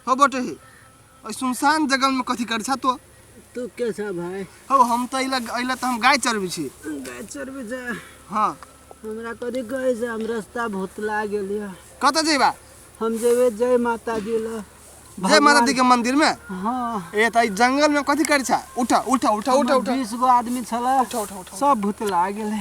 हो बटे हे ओइ सुनसान जगह में कथी कर छा तो तू के छा भाई हो हम तो अइला अइला तो हम गाय चरबी छी गाय चरबे जा हाँ हमरा कथी कहे से हम रास्ता भुतला गेलिए कत जेबा हम जेबे जय माता दी ल जय माता दी के मंदिर में हाँ ए त ई जंगल में कथी कर छा उठा उठा उठा उठा उठा बीस गो आदमी छला उठा उठा उठा सब भुतला गेले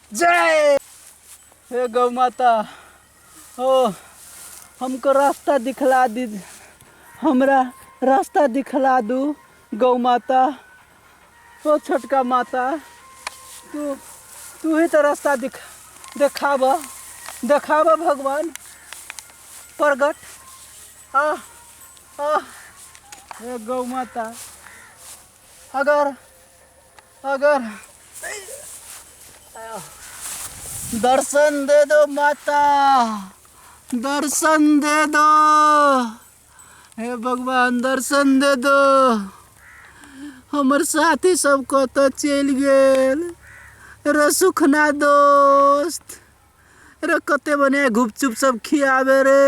जय हे गौ माता ओ हमको रास्ता दिखला दी हमरा रास्ता दिखला दू गौ माता ओ छोटका माता तू तू ही तो रास्ता दिख देखाब देखाब भगवान प्रगट आ आ हे गौ माता अगर अगर दर्शन दे दो माता दर्शन दे दो हे भगवान दर्शन दे दो हमर साथी सब कत चल गेल रे सुखना दोस्त रे कते बने गुपचुप सब खियावे रे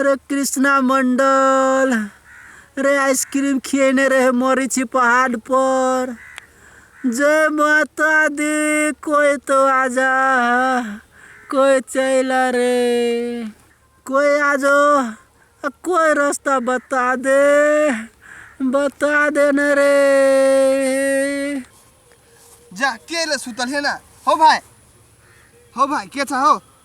अरे कृष्णा मंडल अरे आइसक्रीम खिएने रहे मरी छी पहाड़ पर जय माता दी कोई तो आ जा कोई चला रे कोई आ जाओ अ, कोई रास्ता बता दे बता दे न रे जा के ले सुतल है ना हो भाई हो भाई के छ हो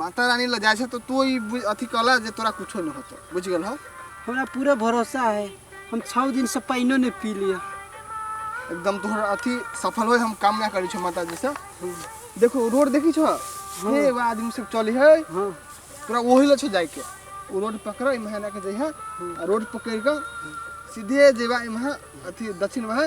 माता रानी लग जाए तो तू ई बु- अथी कहला जे तोरा कुछो नहीं होतो बुझ गेल हो हमरा पूरा भरोसा है हम छः दिन से पानियो नहीं पी लिया एकदम तोहर अथी सफल होए हम कामना करी छो माता जी से देखो रोड देखी छो हे एगो आदमी सब चली है हाँ तोरा वही लग छो जाए के वो रोड पकड़ इम्हा ना के जइहा आ रोड पकड़ के सीधे जेबा इम्हा अथी दक्षिण में है